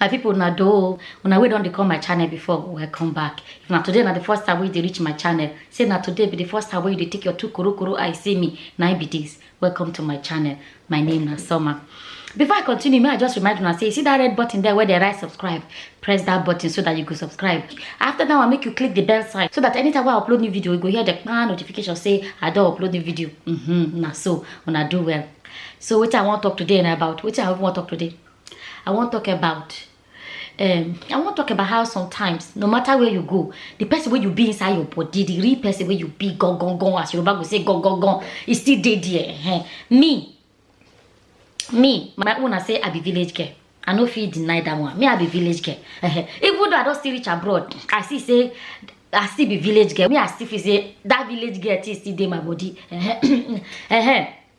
my people na do una wey don dey come my channel before welcome back if na today na the first time wey you dey reach my channel say na today be the first time wey you dey take your two korokoro eye see me na im be this welcome to my channel my name na summer before i continue may i just remind una say you see that red button there where they write subscribe press that button so that you go subscribe after that one make you click the bell sign so that anytime i upload new video you go hear the pan notification say i don't upload new video mm -hmm, na so una do well so what i want to talk today na about what i want to talk today i want to talk about um i wan talk about how sometimes no matter where you go the person wey you be inside your body the real person wey you be gangan as yoruba go say gangan e still dey there ehen me me my own na say i be village girl i no fit deny that one me i be village girl ehen even though i don still reach abroad i see say i still be village girl me i still feel say that village girl thing still dey my body ehen ehen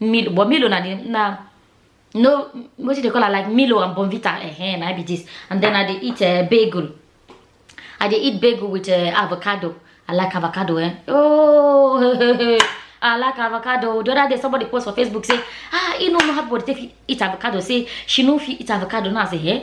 Milo, but Milo na the na no what do they call it like Milo and Bonvita eh, eh na be this. And then I dey eat uh, bagel. I dey eat bagel with uh, avocado. I like avocado eh. Oh, I like avocado. The other day somebody post for Facebook say, ah, you know how to take eat avocado. Say she no fit eat avocado. Now I say, eh.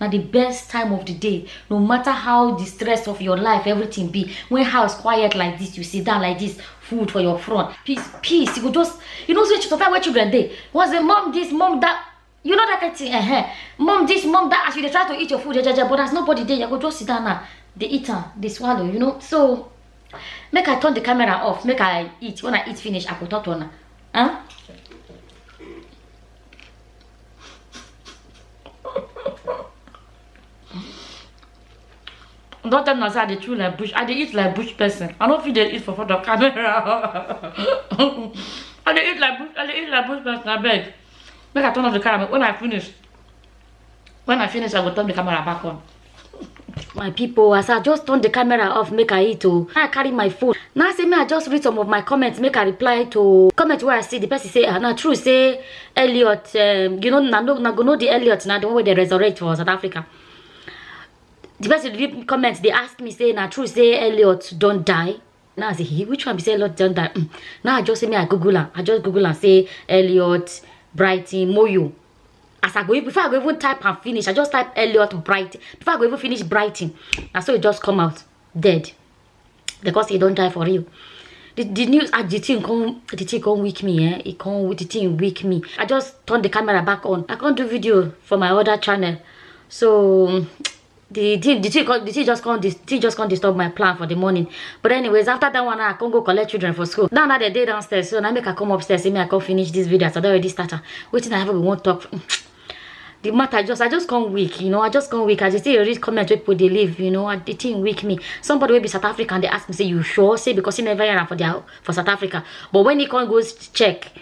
na the best time of the day no matter how the stress of your life everything be when house quiet like this you sit down like this food for your front peace peace you go just you know say sometimes when children dey once the mom this mom that you know that kind thing eh eh mom this mom that as you dey try to eat your food jejeje but as nobody dey you go just sit down now dey eat am dey swallow you know so make i turn the camera off make i eat when i eat finish i go talk to una huh? Don't tell me I dey chew like bush. I dey eat like bush person. I don't feel they eat for front of camera. I dey eat like bush. I dey eat like bush person. I beg. Make I turn off the camera when I finish. when i finish i go turn the camera back on my people as i just turn the camera off make i eat oh i carry my phone now say me i just read some of my comments make i reply to comment where i see the person say ah na true say elliot um, you know na no na go know the elliot na the one wey dey resurrect for south africa the person read comment dey ask me say na true say elliot don die Now I say, he, which one be say Elliot don't die? Mm. Now I just say me I Google am. I just Google am say Elliot Brighton Moyo. As I go even- before I go even type and finish, I just type Elliot Brighton. Before I go even finish Brighton, na so it just come out dead because he don't die for real. The, the news ah, the thing come the thing come weak me eh it come the thing weak me i just turn the camera back on i can't do video for my other channel so the thing the thing come the thing just come the thing just come disturb my plan for the morning but anyways after that one i come go collect children for school now now they dey downstairs so now make i come upstairs say me i come finish this video as i don already start am wetin i have we wan talk the matter just i just come weak you know i just come weak as you see read comment wey people dey leave you know and the thing weak me somebody wey be south african dey ask me say you sure say because he never hear am for their for south africa but when he come go check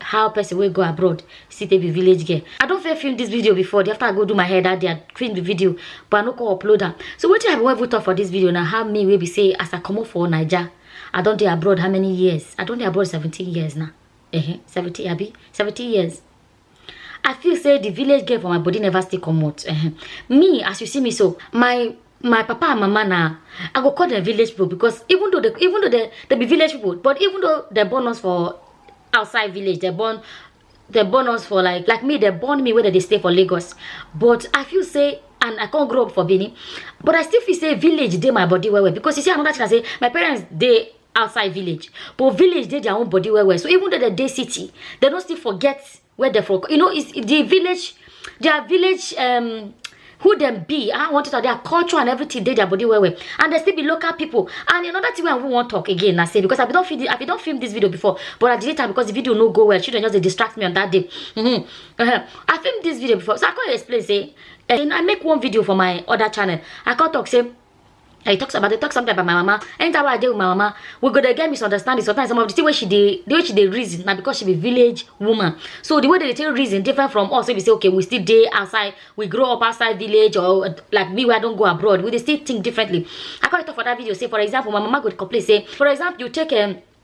how person wey go abroad still take be village girl i don fair film this video before the after i go do my hair that day i film the video but i no come upload am so wetin i wan even talk for this video na how me wey be say as i comot for naija i don dey abroad how many years i don dey abroad 17 years now uh -huh, 17 abi 17 years i feel say the village girl for my body never still comot uh -huh. me as you see me so my my papa and mama na i go call them village people because even though they even though they, they be village people but even though they born us for outside village they born they born us for like like me they born me whether they stay for lagos but i feel say and i can't grow up for benin but i still feel say village dey my body well well because you see another thing i say my parents dey outside village but village dey their own body well well so even though they dey city they don't still forget where they for you know it's the village their village um who them be i want to talk their culture and everything dey their body well well and they still be local people and another thing wey i wan wan talk again na say because i bin don film i bin don film this video before but i delete am because the video no go well children just dey distract me on that day mm -hmm. Uh -huh. i film this video before so i come explain say eh, i make one video for my other channel i come talk say I talk about they talk something about my mama. Anytime I deal with my mama, we go to get misunderstanding. Sometimes some of the things where she did, the way she did reason, now because she be village woman. So the way they tell reason different from us. So we say, okay, we still day outside, we grow up outside village, or like me, where I don't go abroad. We they still think differently. I call it for that video. Say, for example, my mama could complain. Say, for example, you take a um,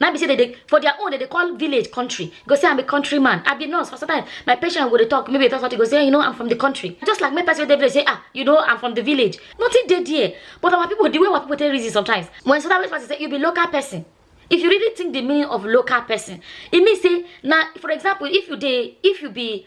na be say they dey for their own they dey call village country you go say i'm a country man i be nurse for sometimes my patient go dey talk maybe that's what you go say you know i'm from the country just like make person wey dey village say ah you know i'm from the village nothing dey there but our people the way our people take reason sometimes when so that way person say you be local person if you really think the meaning of local person e mean say na for example if you dey if you be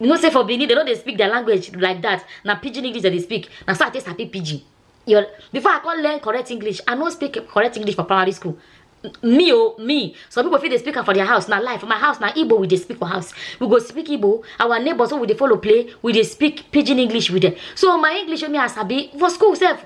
you know say for benin dem no dey speak their language like that na pidgin english dem dey speak na so i take sabi pidgin your before i come learn correct english i no speak correct english for primary school me o me some people fit dey speak am for their house na lie for my house na igbo we dey speak for house we go speak igbo our neighbours wey we dey follow play we dey speak pidgin english with them so my english wey me i sabi for school sef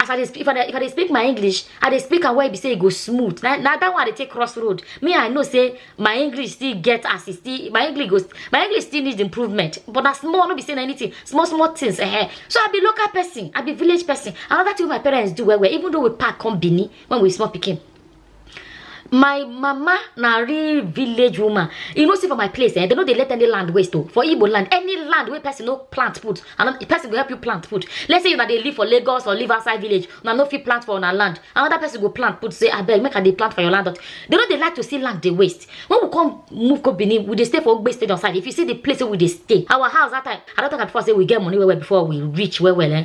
as i dey speak if i dey if i dey speak my english i dey speak am wey be say e go smooth na na that one i dey take cross road me i know say my english still get as e still my english go my english still need improvement but na small no be say na anything small small things eh so i be local person i be village person another thing wey my parents do well well even though we pack come benin when we small pikin my mama na real village woman you know see for my place eh they no dey let any land waste o oh. for igbo land any land wey person no plant put and the person go help you plant put let's say una dey live for lagos or live outside village una no fit plant for una land another person go plant put say abeg make i dey plant for your land they no dey like to see land dey waste when we come move go benin we dey stay for ogbe stadium side if you see the place wey we dey stay our house that time i don talk am before say we get money well well before we reach well well eh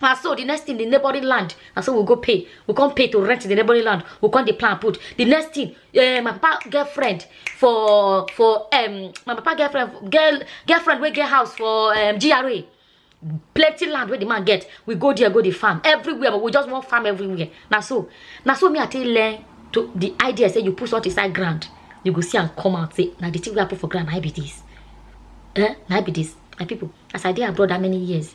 And so the next thing, the neighboring land, and so we go pay. We come pay to rent the neighboring land. We come the plan put. The next thing, uh, my papa girlfriend for for um my papa girlfriend girl girlfriend we get house for um GRA. Plenty land where the man get. We go there, go the farm everywhere, but we just want farm everywhere. Now so, now so me I tell learn to the idea say you put salt inside ground, you go see and come out say now the thing we put for ground I be this. Eh? Now be this. My people, as I did abroad that many years,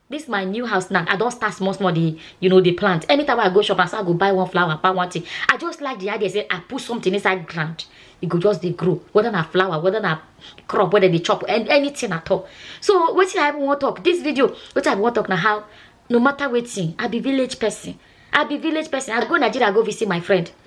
This my new house now, I don't start small small the you know the plant. Anytime I go shop, I say I go buy one flower, buy one thing. I just like the idea say I put something inside ground. It go just they grow, whether na flower, whether na crop, whether they chop, and anything at all. So what I want to talk this video, what I want to talk now how no matter waiting, I be village person. I be village person. I go Nigeria, I go visit my friend.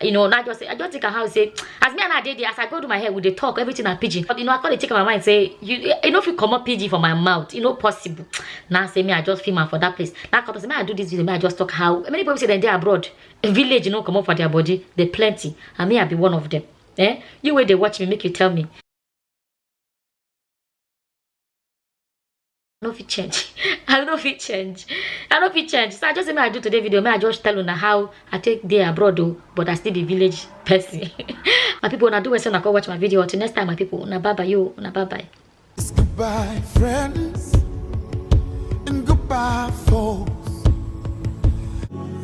you know not just say i just take her house say as me and her dey there as i go do my hair we dey talk everything na pidgin but you know i come dey take my mind say you you no fit comot pidgin for my mouth e no possible na say me i just film am for that place na come say me i do this video me i just talk how many people say dem dey abroad village no comot for their body dey plenty and me i be one of them eh you wey dey watch me make you tell me I no fit change. I no fit change. I no fit change. So I just say I do today video. May I just tell una how I take day abroad though, but I still be village person. my people, when I do when I go watch my video. Until next time, my people, na bye bye you, na bye bye. Goodbye, friends, and goodbye, folks.